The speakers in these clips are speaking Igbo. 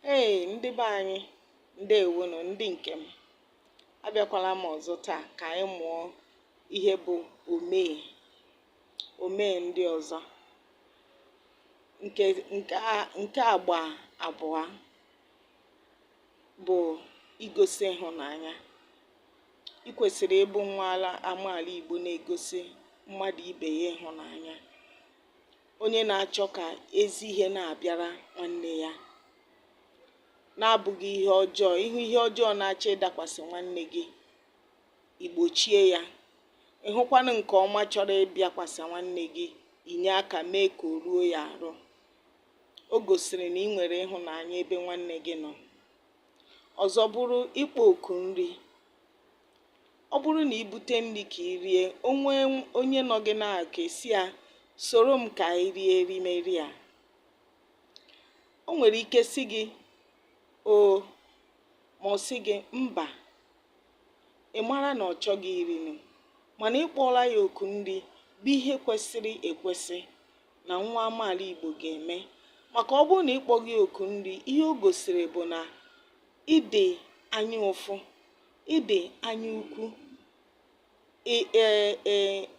Hey ndị be anyị, ndewonu ndị nke m. Abịakwala m ọzọ taa ka anyị mụọ ihe bụ omume ndị ọzọ nke agba abụọ bụ igosi ịhụnanya. I kwesịrị ịbụ nwa ala amaala Igbo na-egosi mmadụ ibe ya ịhụnanya. onye na-achọ ka ezi ihe na-abịara nwanne ya na-abụghị ihe ọjọọ ị hụ ihe ọjọọ na-achọ ịdakwasị nwanne gị i gbochie ya ị hụkwanụ nke ọma chọrọ ịbịakwasị nwanne gị i nye aka mee ka o ruo ya arụ o gosiri na ị nwere ịhụnanya ebe nwanne gị nọ ọzọ bụrụ ịkpọ oku nri ọ bụrụ na i bute nri ka i rie o nwee onye nọ gị n'aka ị sị ya soro m ka anyị rie erimeri a o nwere ike sị gị o ma ọ sị gị mba ị mara na ọ chọghị irinụ mana ị kpọọla ya oku nri bụ ihe kwesịrị ekwesị na nwa amaala Igbo ga-eme maka ọ bụrụ na ị kpọghị oku nri ihe o gosiri bụ na ị dị anya ụfụ ị dị anya ukwu e, e,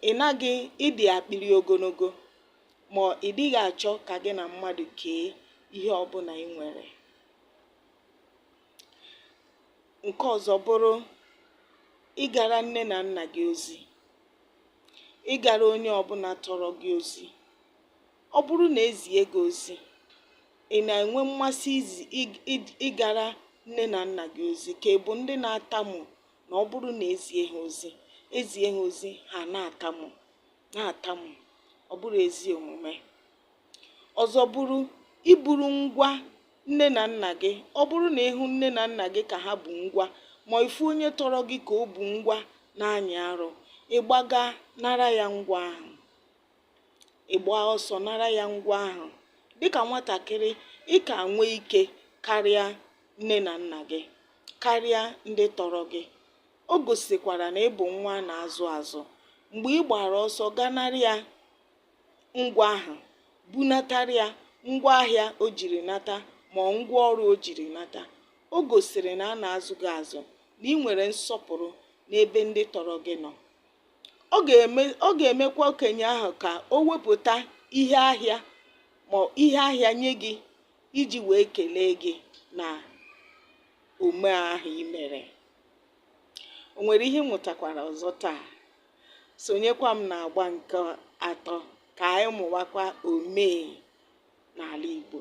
ị naghị ị dị akpịrị ogologo ma ị dịghị achọ ka gị na mmadụ kee ihe ọbụla ị nwere nke ọzọ bụrụ ịgara nne na nna gị ozi ịgara onye ọbụla tọrọ gị ozi Ọ bụrụ na e zie gị ozi, ị na-enwe mmasị ịgara nne na nna gị ozi ka ị bụ ndị na-atamu na ọ bụrụ na e zie ha ozi e zie ha ozi ha na-atamu na-atamu ọ bụrọ ezi omume ọzọ bụrụ iburu ngwa nne na nna gị ọ bụrụ na ị hụ nne na nna gị ka ha bu ngwa ma ị fụ onye tọrọ gị ka o bu ngwa na-anyị arụ ị gbaga nara ya ngwa ahụ ị gbaa ọsọ nara ya ngwa ahụ dịka nwatakịrị ị ka nwee ike karịa nne na nna gị karịa ndị tọrọ gị o gosikwara na ị bụ nwa a na-azụ azụ mgbe ị gbara ọsọ gaa nara ya ngwa ahụ bunatara ya ngwa ahịa o jiri nata ma ngwa ọrụ o jiri nata o gosiri na a na-azụ gị azụ na ị nwere nsọpụrụ n'ebe ndị tọrọ gị nọ ọ ga-eme ọ ga-emekwa okenye ahụ ka o wepụta ihe ahịa ma ihe ahịa nye gị iji wee kelee gị na omume ahụ i mere o nwere ihe ị mụtakwara ọzọ taa sonyekwa m na agba nke atọ ka anyị mụwakwa omenala Igbo